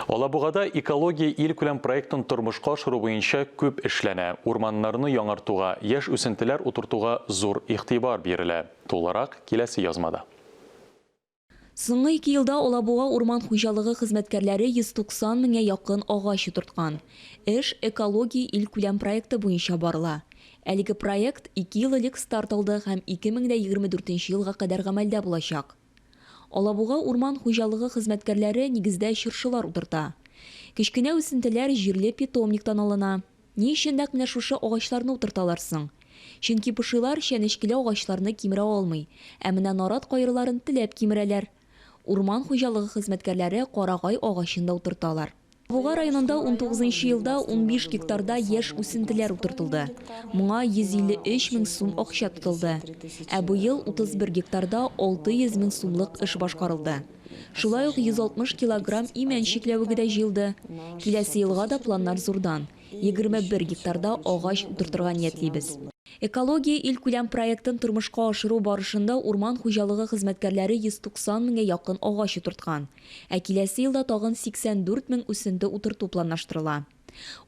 Алабугада Экология илкүләм проектын тормышка ашыру буенча күп эшләнә. Урманнарны яңартуга, яшь үсентеләр утыртуга зур игътибар бирелә. Тулырак, киләсе язмада. Соңгы ике елда Алабуга урман хуҗалыгы хезмәткәрләре 190 меңгә якын агач утырткан. Эш Экология илкүләм проекты буенча барыла. Әлеге проект ике ел элек старт алды һәм 2024 елга кадәр гамәлдә булачак. Алабуга урман хуҗалыгы хезмәткәрләре нигездә чыршылар утырта. Кечкенә үсентеләр җирле питомниктан алына. Ни өчен нәкъ менә шушы агачларны утырталар соң? Чөнки пошилар чәнечкеле агачларны кимерә алмый, ә менә нарат кайрыларын теләп кимерәләр. Урман хуҗалыгы хезмәткәрләре карагай агачын да утырталар. Буга районында унтугызынчы елда унбиш гектарда яшь үсентеләр утыртылды. Моңа 153 мең сум акча тотылды. Ә быел 31 гектарда 600 мең сумлык эш башкарылды. Шулай ук 160 килограмм имән чикләвеге дә җыелды. Киләсе елга да планнар зурдан, 21 гектарда агач утыртырга ниятлибез. Экология илкүләм проектын тормышка ашыру барышында урман хуҗалыгы хезмәткәрләре 190 меңгә якын агач утырткан. Ә киләсе елда тагын 84 мең үсенте утырту планлаштырыла.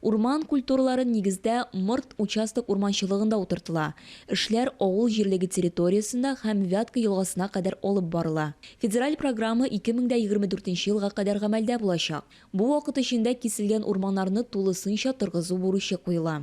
Урман культуралары нигездә Морт участок урманчылыгында утыртыла, эшләр авыл җирлеге территориясендә һәм Вятка елгасына кадәр алып барыла. Федераль программа 2024 нче елга кадәр гамәлдә булачак. Бу вакыт эчендә киселгән урманнарны тулысынча торгызу бурычы куела.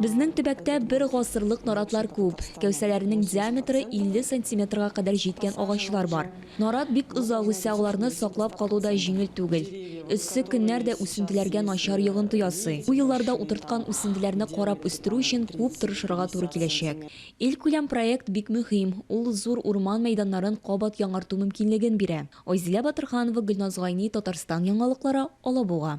Безнең төбәктә бер гасырлык наратлар күп. Кәүсәләренең диаметры 50 сантиметрга кадәр җиткән агачлар бар. Нарат бик озак үсә, аларны саклап калу да җиңел түгел. Эссе көннәр дә үсентеләргә начар йогынты ясый. Бу елларда утырткан үсентеләрне карап үстерү өчен күп тырышырга туры киләчәк. Илкүләм проект бик мөһим, ул зур урман мәйданнарын кабат яңарту мөмкинлеген бирә. Айзилә Батырханова, Гөлназ Гайни, Татарстан яңалыклары, Алабуга.